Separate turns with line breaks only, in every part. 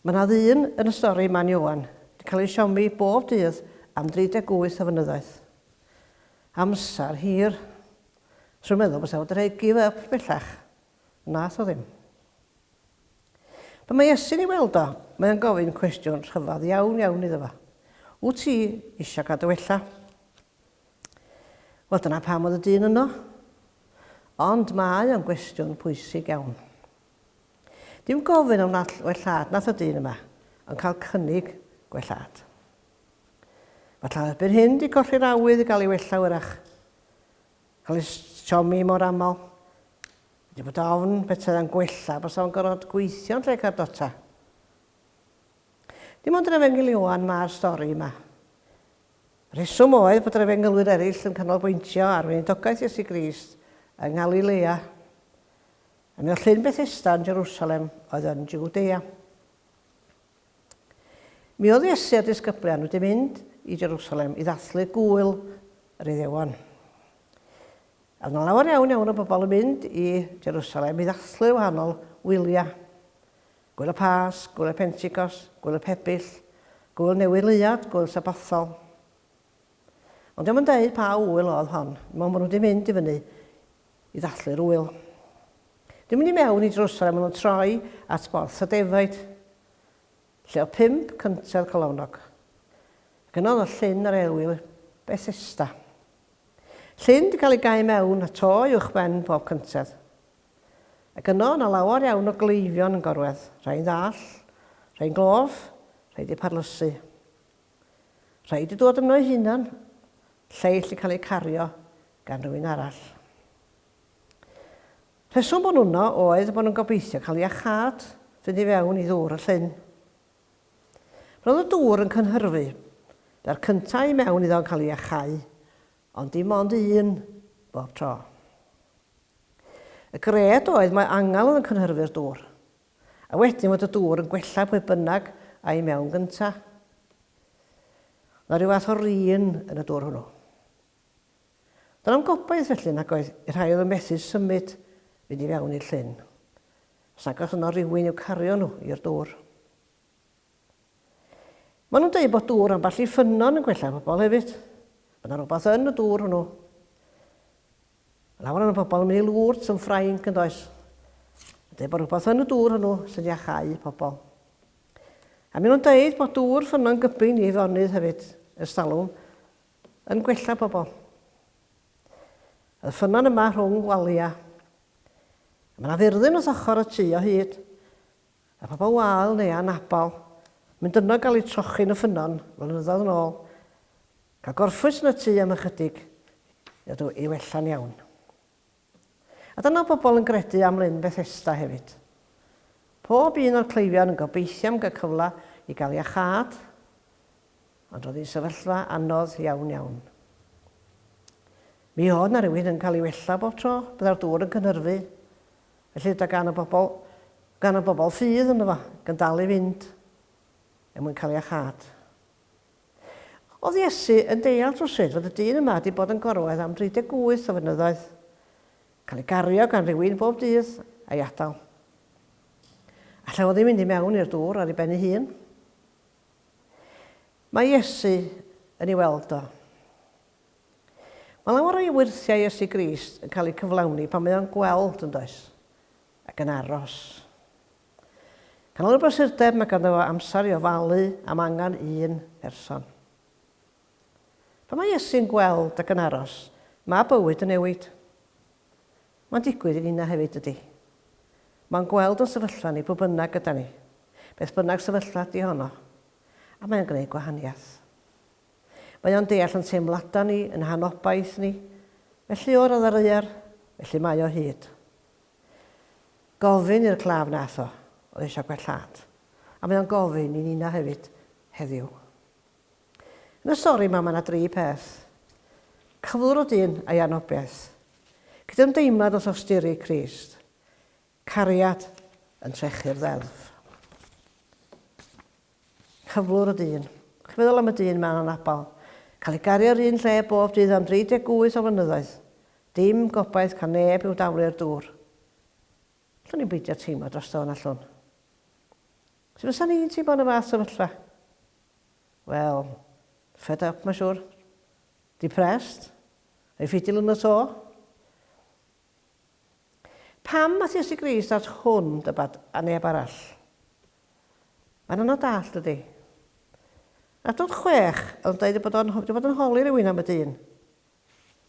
Mae yna ddyn yn y stori Man Ioan yn cael ei siomi bob dydd am 38 o fynyddoedd. Amser hir. Swn meddwl fysa fo wedi rhoi give up bellach. Nath o ddim. Pan mae Iesu'n ei weld o, mae o'n gofyn cwestiwn rhyfedd iawn iawn iddo fo. Wyt ti eisiau cadw wella? Wel dyna pam oedd y dyn yno. Ond mae o'n gwestiwn pwysig iawn. Dim gofyn am nall wellhad nath y dyn yma, ond cael cynnig gwellhad. Falla erbyn hyn 'di colli'r awydd i gael ei wella wyrach. Cael ei siomi mor aml. Wedi bod ofn petai o'n gwella basa fo'n gorfod gweithio yn lle cardota. Dim ond yr Efengyl Ioan ma'r stori yma. Rheswm oedd bod yr efengylwyr eraill yn canolbwyntio ar weinidogaeth Iesu Grist yng Nghalilea. Yn y llyn Bethesda yn Jerusalem oedd yn Jiwdea. Mi oedd Iesu a'r disgyblion wedi mynd i Jerusalem i ddathlu gŵyl yr Iddewon. A yna lawer iawn iawn o bobl yn mynd i Jerusalem i ddathlu wahanol wyliau. Gwyl y Pas, Gwyl y Penticos, Gwyl y Pebyll, Gwyl Newydd Leuad, Gwyl Sabothol. Ond dio'm yn deud pa ŵyl oedd hon, mo ma' nhw 'di mynd i fyny i ddathlu'r ŵyl. Dwi'n mynd i mewn i drws a ma' nhw'n troi at borth y defaid, lle oedd pump cyntedd colofnog. Ac yna oedd llyn yr aelwyl Bethesda. Llyn 'di cael ei gau mewn a to uwchben pob cyntedd. Ac yno o' 'na lawer iawn o gleifion yn gorwedd, rhai'n ddall, rhai'n glof, rhai 'di parlysu. Rhaid i ddod yno ei hunan, lleill i cael eu cario gan rywun arall. Rheswm bod nhw yno oedd y bod nhw'n gobeithio cael iachâd fynd i fewn i ddŵr y llyn. Roedd y dŵr yn cynhyrfu, da'r cyntaf i mewn iddo yn cael ei achau, ond dim ond un bob tro. Y gred oedd mae angel oedd yn cynhyrfu'r dŵr, A wedyn fod y dŵr yn gwella pwy bynnag a i mewn gynta. Oedd 'na ryw fath o run yn y dŵr hwnnw. Doedd na'm gobaith felly nag oedd i'r rhai oedd yn methu symud fynd i fewn i'r llyn. Os nag oes yno rywun i'w cario nhw i'r dŵr. Maen nhw'n dweud bod dŵr ambell i ffynnon yn gwella pobl hefyd. Mae yna rhywbeth yn y dŵr hwnnw. Mae lawer o'n pobl yn mynd i lwrt yn Ffrainc yn does. Mae'n dweud bod rhywbeth yn y dŵr hwnnw sy'n iachau pobl. A maen nhw'n dweud bod dŵr ffynnon gybyn i Eifonydd hefyd, ers talwm, yn gwella pobl. Y ffynnon yma rhwng waliau. Mae yna fyrddin wrth ochr y tu o hyd. a phobl wael neu anabl, mynd yno gael eu trochi yn y ffynnon flynyddoedd yn ôl, cael gorffwys yn y tŷ am ychydig i ddod i wella'n iawn. A dyna pobl yn gredu am Lyn Bethesda hefyd. Pob un o'r cleifion yn gobeithio am gael cyfle i gael iachâd, ond roedd hi'n sefyllfa anodd iawn iawn. Mi oedd na rywun yn cael ei wella bob tro, byddai'r dŵr yn cynhyrfu, Felly da gan y bobl, gan y bobl sydd ynddo fo, ac yn dal i fynd, er mwyn cael ei achâd. Oedd Iesu yn deall rhywsut fod y dyn yma wedi bod yn gorwedd am 38 o fynyddoedd, cael ei gario gan rywun bob dydd, a'i adael. Allai fo ddim mynd i mewn i'r dŵr ar ei ben ei hun. Mae Iesu yn ei weld o. Mae lawer o'i wyrthiau Iesu Grist yn cael eu cyflawni pan mae o'n gweld, yn does? Ac yn aros. Gan o'r brysurdeb mae ganddo fo amser i ofalu am angen un person. Pan mae Iesu'n gweld ac yn aros, mae bywyd yn newid. Mae'n digwydd i ninna hefyd, dydy. Mae'n gweld yn sefyllfa ni pwy bynnag gyda ni, beth bynnag sefyllfa ydy honno, a mae'n gwneud gwahaniaeth. Mae o'n deall yn teimlada ni, yn hanobaith ni. Felly o'r ddaear, felly mae o hyd. Gofyn i'r claf nath o, oedd eisiau gwellhad. A mae o'n gofyn i nina hefyd, heddiw. Yn y stori yma mae yna dri peth. Cyflwr o dyn a'i anobiaeth. Cydymdeimlad wrth osturi Crist. Cariad yn trechu'r ddeddf. Cyflwr y dyn. Chi'n meddwl am y dyn 'ma yn anabal? Cael ei gario yr un lle bob dydd am 38 o flynyddoedd. Dim gobaith cael neb i'w daflu i'r dŵr. Allwn ni'm beidio teimlo drosto fo, na allwn? Sut fysa ni'n teimlo yn y fath sefyllfa? Wel, fed up mae'n siŵr. Depressed. Ei ffidil yn y to. Pam nath Iesu Grist at hwn dybad a neb arall? Mae'n anodd dallt dydi? Yn adnod chwech oedd yn deud ei bod o'n wedi bod yn holi rhywun am y dyn.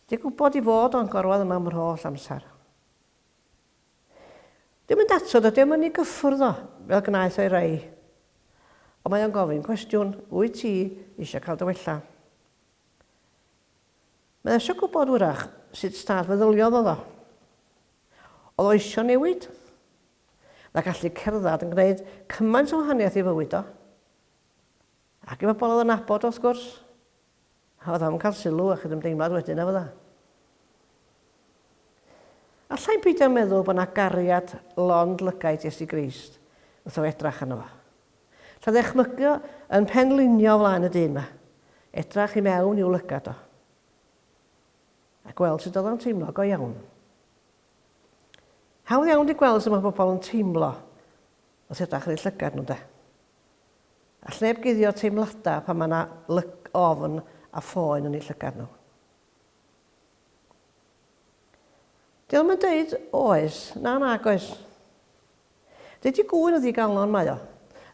Di gwybod i fod o'n gorwedd yma am yr holl amser. Dim yn dato dydi o'm yn ei gyffwrdd o fel gnaeth o'i rei. Ond mae o'n gofyn cwestiwn, wyt ti eisiau cael dy wella? Mae eisiau gwybod wyrach sut staff feddyliodd oedd o. Oedd o eisiau newid? Oedd a gallu cerdded yn gwneud cymaint o wahaniaeth i fywyd o? Ac i bobl oedd yn abod o wrth gwrs. A oedd o'n cael sylw a chydymdeimlad wedyn efo dda. Allai'n peidio meddwl bod yna gariad lond lygaid Iesu Grist wrth o edrach arno fo. Tra dychmygio yn penlinio o flaen y dyn 'ma, edrach i mewn i'w lygad o, a gweld sut oedd o'n teimlo, go iawn. Hawdd iawn di gweld sut mae pobl yn teimlo wrth edrach yn ei llygad nhw, de. A llneb guddio teimladau pan mae yna lyg ofn a phoen yn ei llygad nhw. Dio'm yn deud oes, na nag oes. Dydi gŵyn yn ddigalon, mae o.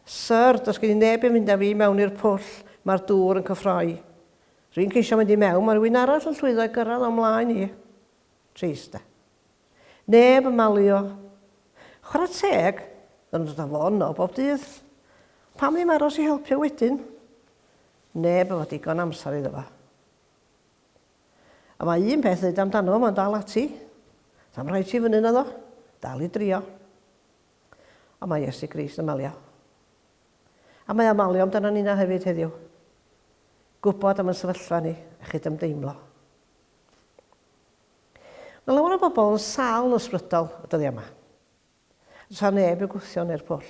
Syr, does gen i neb yn fynd â fi i mewn i'r pwll, mae'r dŵr yn cyffroi. Rwy'n ceisio mynd i mewn, mae rhywun arall yn llwyddo i gyrraedd o'm mlaen i. Trist, de. Neb yn malio. Chwarae teg, dyn nhw'n dod â fo yno bob dydd. Pam ddim aros i helpu wedyn? Neb efo digon amser iddo fo. A mae un peth ddeud amdano fo, mae'n dal ati. Sa'm rhaid ti fyny naddo. Dal i drio. A mae Iesu Grist yn malio. A mae o malio amdano ni na hefyd heddiw. Gwybod am yn sefyllfa ni a chydymdeimlo. Mae lawer o bobl yn sal ysbrydol y dyddiau yma. Does neb yn gwthio neu'r pwll.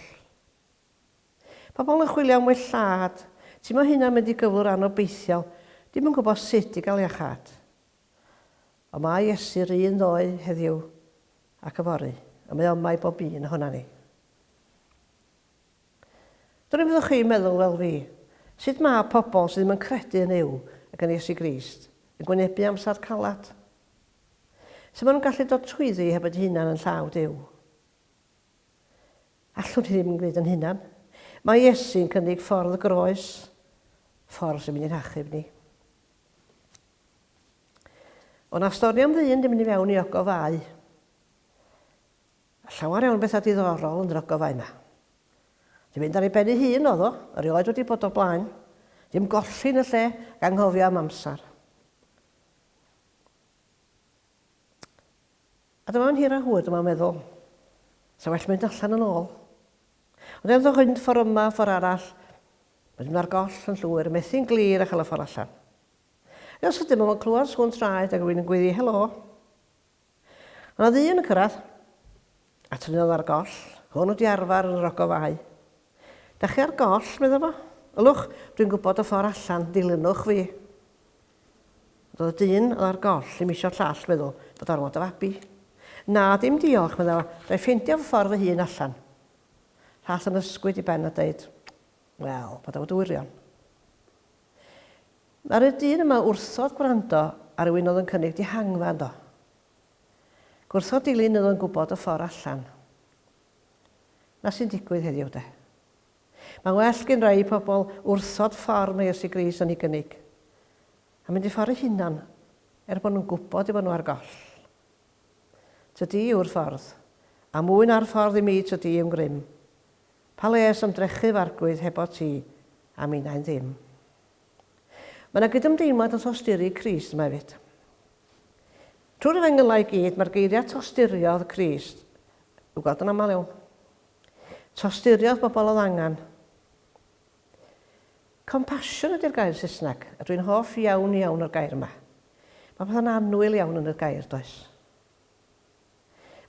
Pobl yn chwilio am well lladd. Ti mo hynna'n mynd i gyflwr anobeithiol, dim yn gwybod sut i gael iachâd. Ond mae Iesu 'r un ddoe, heddiw, ac yfory, a mae oma i bob un ohona ni. Dwrn fyddwch chi'n meddwl fel fi, sut mae pobl sydd ddim yn credu yn Uw ac yn Iesu Grist yn gwynebu amser calad? Sut mae nhw'n gallu dod trwyddi heb fod eu hunan yn llaw Duw? Allwn ni ddim gwneud yn hunan. Mae Iesu'n cynnig ffordd y groes, ffordd sy'n mynd i'n hachub ni. O na stori am ddyn di mynd i fewn i ogof fau. A llawer iawn bethau diddorol yn yr ogof fau yma. Di mynd ar ei ben ei hun oedd o, erioed wedi bod o blaen. Dim golli yn y lle, ganghofio am amser. A dyma fo'n hir a hwyr, dyma fo'n meddwl, 'Sa well mynd allan yn ôl. Ond ewch â'ch hwynt ffor' yma a ffor' arall, wedyn ma'r goll yn llwyr, methu'n glir a chael y ffor' allan. Ryw sydyn ma' fo'n clywed sŵn traed ag rywun yn gweiddi 'Helo! O' 'na ddyn yn cyrradd, a tynnodd ar y goll, hwn wedi arfar yn yr ogof f'ai. 'Dach chi ar goll? medda fo. Ylwch, dwi'n gwybod y ffor' allan, dilynwch fi. Roedd dyn o ar goll ddim isio llall feddwl bod ormod o fabi. Na, dim diolch, medda fo, ga i ffeindio fy ffordd fy hun allan. Llall yn ysgwyd i ben a deud, Wel, paid â bod wirion. Ddaru'r dyn yma wrthod gwrando ar rywun oedd yn cynnig dihangfa ynddo. Gwrthod dilyn oedd yn gwybod y ffordd allan. Na sy'n digwydd heddiw, de. Mae'n well gin rai pobl wrthod ffordd mae Iesu Grist yn ei gynnig, a mynd i ffordd eu hunan, er bod nhw'n gwybod eu bod nhw ar goll. Tydi yw'r ffordd, a mwy na'r ffordd i mi tydi yw'n grym. Pa les ymdrechu f'arglwydd hebot ti, a minnau'n ddim. Mae yna gydymdeimlad yn thosturi Crist yma hefyd. Trwy'r Efengylau i gyd, mae'r geiriau tosturiodd Crist i'w gweld yn aml iawn. Tosturiodd bobl oedd angen. Compassion ydy'r gair Saesneg. A dwi'n hoff iawn iawn o'r gair yma. Mae pethau'n annwyl iawn yn yr gair, does?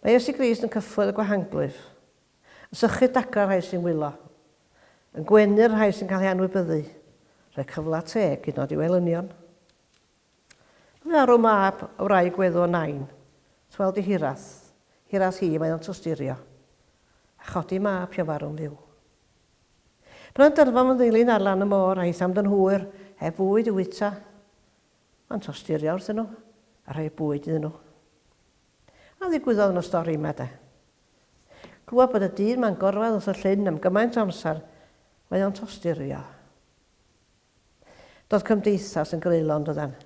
Mae Iesu Grist yn cyffwrdd y gwahanglwyf, yn sychu dagrau'r rhai sy'n wylo, yn gwenu'r rhai sy'n cael eu anwybyddu, rhoi cyfle teg hyd yn oed i'w elynion. Arw mab wraig weddw o Nain, Twel di hiras, hiras hi mae o'n twsturio, A chodi mab pio farw'n fyw. Bna'n dyrfa fy ndeilyn ar lan y môr A hitham dyn hwyr heb fwyd i wyta, Ma'n twsturio wrthyn nhw a rhoi bwyd iddyn nhw. A ddigwyddodd yn y stori yma de. Clywed bod y dyn ma'n gorwedd wrth y llyn am gymaint o amser, Mae o'n twsturio. Doedd cymdeithas yn greulon, doedden.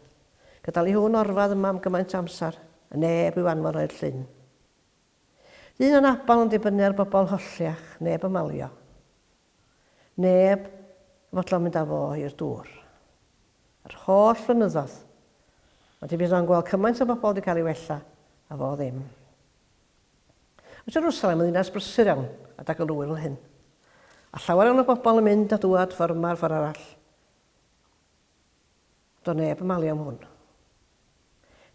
Gyda Li Hwn orfad yma am gymaint o amser, a neb i'w anfon o i'r llyn. Ddyn anabal yn dibynnu ar bobl holliach, neb yn malio. Neb yn fodlon mynd â fo i'r dŵr. Yr holl flynyddoedd, ond mi fydd o'n gweld cymaint o bobl 'di cael ei wella, a fo ddim. Mae Jerwsalem yn ddinas brysur iawn, a da galw yw'r hyn. A llawer iawn o bobl yn mynd a dŵad ffor yma a'r ffor arall. Do neb yn malu am hwn.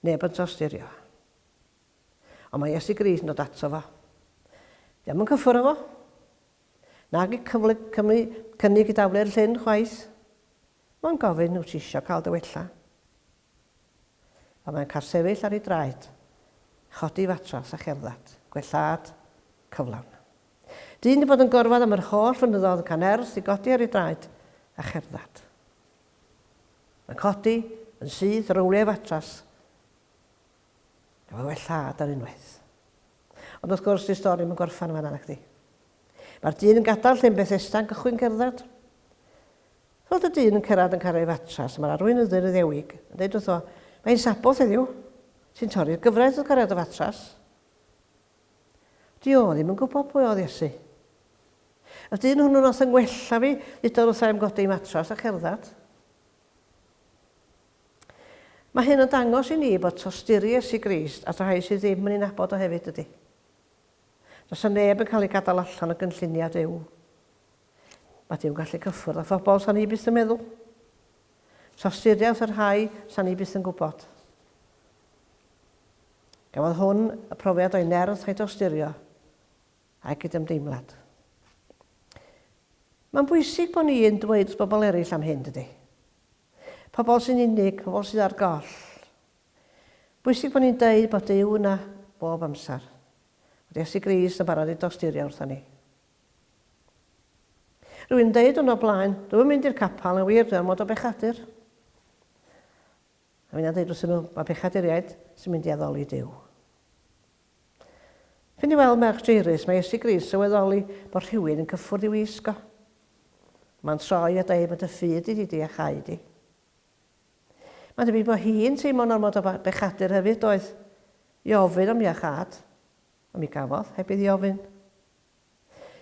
Neb yn trawsdirio. Ond mae Iesu Grist yn dod ato fo. Di am yn cyffwr efo. Nag i cyfle Cymru cynnig i daflu'r llyn chwaith. Mae'n gofyn, wyt ti isio cael dy wella? Pan mae'n cael sefyll ar ei draed, chodi fatras a cherdded, gwellhad cyflawn. Dyn di bod yn gorfod am yr holl fynyddodd yn can ers i godi ar ei draed a cherdded. Mae'n codi yn syth ar owliau fatras Mae well lladd ar unwaith. Ond wrth gwrs, dyw stori ddim yn gorffen fan'na, nacdi? Mae'r dyn yn gadael llyn Bethesda yn cychwyn cerdded. Wrth y dyn yn cyrraedd yn cael ei fatras, mae'r arweinyddy'r Iddewig yn dweud wrtho, Mae hi'n Sabboth heddiw. Ti'n torri'r gyfraith wrth gario dy fatras. Dio ddim yn gwybod pwy oedd Iesu. Y dyn hwnnw nath yng ngwella fi, ddudodd wrtha i'm godi matras a cerdded. Mae hyn yn dangos i ni bod tosturi Iesu Grist at y rhai sydd ddim yn ei nabod o hefyd, dydy? Does yna neb yn cael ei gadael allan o gynlluniau Duw. Mae Duw'n gallu cyffwrdd â phobl sa'n ni byth yn meddwl. Tosturi wrth y rhai sa'n ni byth yn gwybod. Gafodd hwn y profiad o'i nerth a'i dosturio, a'i gydymdeimlad. Mae'n bwysig bod ni yn dweud wrth bobl eraill am hyn, dydy? Pobl sy'n unig, pobl sydd ar goll. Bwysig bod ni'n deud bod Duw yna bob amser. Bod Iesu Grist yn barod i dosturio wrthon ni. Rwy'n deud hwn o blaen, dw yn mynd i'r capel yn wir dwi mod o bechadur. A fi'n deud wrthyn nhw, mae pechaduriaid sy'n mynd i addoli Duw. Fynd i weld merch Jairus, mae Iesu Grist sylweddoli bod rhywun yn cyffwrdd i'w wisgo. Mae'n troi a dweud bod y ffydd di di di a chau di. Mae'n debyg bod hi'n teimlo'n ormod o bechadur hefyd, doedd, i ofyn am iachâd, ond mi gafodd, heb iddi ofyn.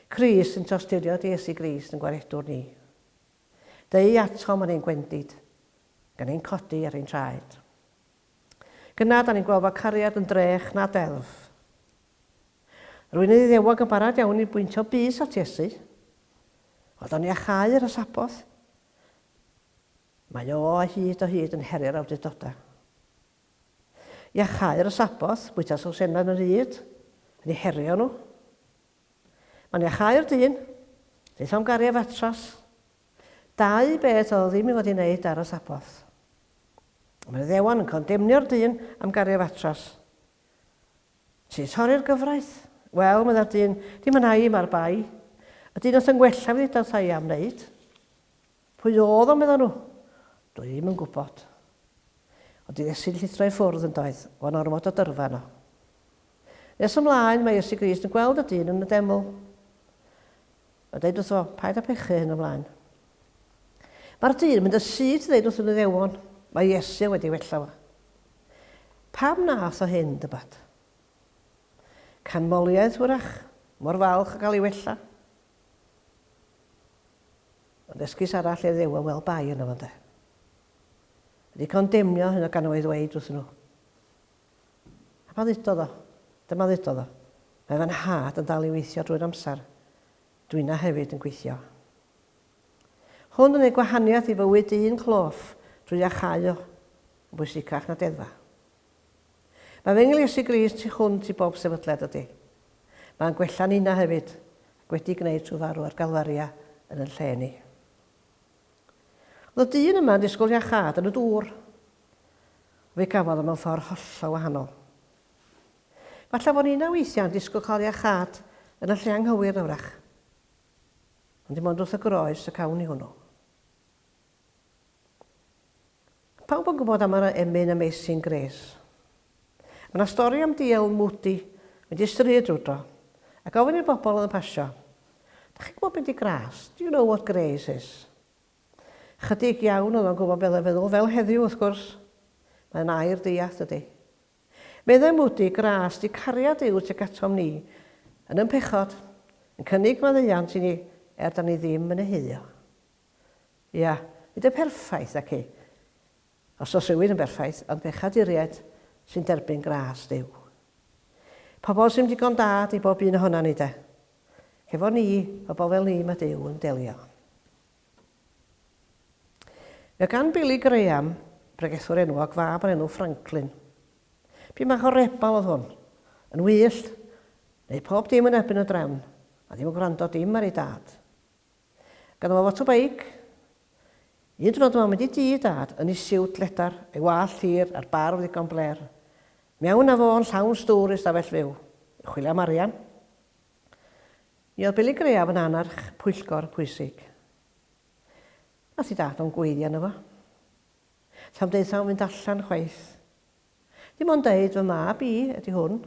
Crist yn tosturio di Iesu Grist yn gwaredwr ni. Deu atom yn ein gwendid, gan ein codi ar ein traed. Gyna da ni'n gweld fod cariad yn drech na deddf. Rwy'n ei ddiddewog yn barod iawn i bwyntio bys at Iesu. Ond oni a chau ar y Sabboth? Mae o o hyd o hyd yn heri'r awdurdodau. I a chau ar y Sabboth, bwyta sawsenau yn y rhyd, yn ei herio nhw. Mae'n i a chau'r dyn, daethom gari a fatras, Dau beth oedd ddim i fod i wneud ar y Sabboth. Mae'r Iddewon yn condemnio'r dyn am gario fatras. Ti'n torri'r gyfraith? Wel, meddai'r dyn, dim yna i, mae'r bai. Y dyn oedd yn gwella fi ddeudodd ta i am wneud. Pwy oedd o, meddai nhw? Dwi ddim yn gwybod. Ond i Iesu'n llithro i ffwrdd yn doedd, fo'n ormod o dyrfa yno. Nes ymlaen, mae Iesu Grist yn gweld y dyn yn y deml. A deud wrtho, Paid â phechu hyn o flaen. Mae'r dyn yn mynd yn syth i ddeud wrth yr Iddewon, Mae Iesu wedi wella fo. Pam wnaeth o hyn, dybad? Canmoliaeth, wrach, mor falch o gael ei wella. Ond esgus arall i'r Iddewon, wel, bai yno fo, ynde? Wedi condemnio hyn o gan o ei ddweud wrthyn nhw, A pan ddudodd o? Dyma ddudodd o, Mae fy nhad yn dal i weithio drwy'r amser. Dw inna hefyd yn gweithio. Hwn yn gwneud gwahaniaeth i fywyd un cloff drwy iachau o, yn bwysicach na deddfa. Mae fy Nghliesu Grist tu hwnt i bob sefydliad ydy. Mae'n gwella ninna hefyd, ac wedi gwneud trwy farw ar Galfaria yn yn lle ni. Oedd y dyn yma yn disgwyl iachâd yn y dŵr, Fe gafodd o mewn ffordd hollol wahanol. Falle fod ninnau weithiau yn disgwyl cael iachâd yn y lle anghywir na wrach. Ond dim ond wrth y groes y cawn ni hwnnw. Pawb yn gwybod am yr emyn Amazing Grace. Mae yna stori am diawl Moody mynd i stryd rwydro a gofyn i'r bobl oedd yn pasio, Da chi'n gwybod be di gras? Do you know what grace is? Chydig iawn oedd o'n gwybod beth oedd o'n feddwl, fel heddiw wrth gwrs. Mae'n air deall, dydy. Meddai Moody, Gras di cariad yw tuag atom ni, yn yn pechod, yn cynnig maddeuant i ni er da ni ddim yn ei heuo. Ia, nid yn perffaith, naci? Os oes rhywun yn berffaith, ond pechaduriaid sy'n derbyn gras Duw. Pobl sy'm digon da ydi bob un ohona ni, de. Hefo ni, pobl fel ni, mae Duw yn delio. Mae gan Billy Graham, bregethwr enwog, fab o'r enw Franklin. P'un bach o rebel oedd hwn. Yn wyllt, wneud pob dim yn erbyn y drefn, a ddim yn gwrando dim ar ei dad. Ganddo fo fotobeic. Un diwrnod yma mynd i dŷ Dad yn ei siwt ledar, ei wallt hir a'r barf ddigon blêr. Mewn â fo yn llawn stŵr i stafell fyw, i chwilio am arian. Mi oedd Billy Graham yn annerch pwyllgor pwysig. Nath i Dad o'n gweiddi arno fo. Sa'm deutha fo'n fynd allan chwaith. Dim ond deud fy mab i ydi hwn.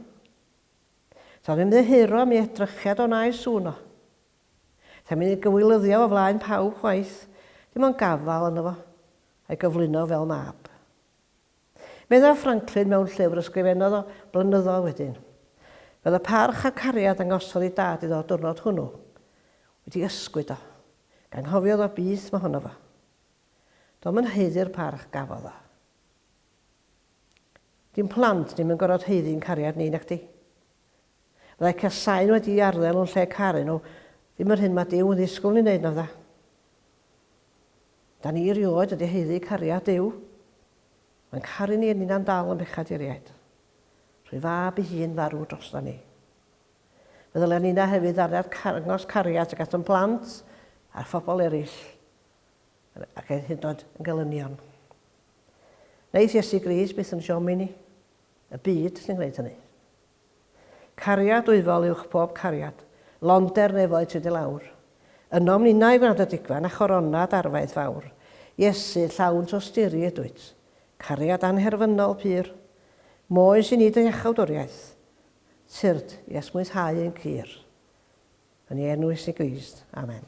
Sa'm ymddiheuro am ei edrychiad o na ei sŵn o. Sa i'n mynd i gywilyddiof o flaen pawb chwaith, dim ond gafael arno fo, a'i gyflwyno fel mab. Meddaf Franklin mewn llyfr y sgrifennodd o flynyddoedd wedyn. Fel y parch a'r cariad ddangosodd ei dad iddo o'r diwrnod hwnnw, wedi ysgwyd o, ganghofiodd o beth mae honno fo. Do'm yn haeddu'r parch gafodd o. Di'n plant ni'm yn gorfod haeddu'n cariad ni, nacdi? Fyddai casáu'n wedi'i arddel nhw'n lle caru nhw, ddim yr hyn mae Duw yn ddisgwyl ni wneud, na fydda? Da ni erioed wedi haeddu cariad Duw. Mae'n caru ni a ninnau'n dal yn bechaduriaid. Rhoi fab i hun farw drosta ni. Fe ddylen ninna hefyd ddariad carngos cariad tuag at yn plant a'r phobl eraill ac hyd yn oed yn gelynion. Wnaeth Iesu Gris byth yn siomi ni. Y byd sy'n gwneud hynny. Cariad wyfol uwch pob cariad, londer nefoedd tyd i lawr. Ynom ninnau graddedigian a choronad arfaeth fawr, Iesu, llawn tosturi ydwyt, cariad anherfynol pur. Moes i ni dy iachawdwriaeth, tyrd i esmwythau ein cur. Yn ei enw Iesu Grist, amen.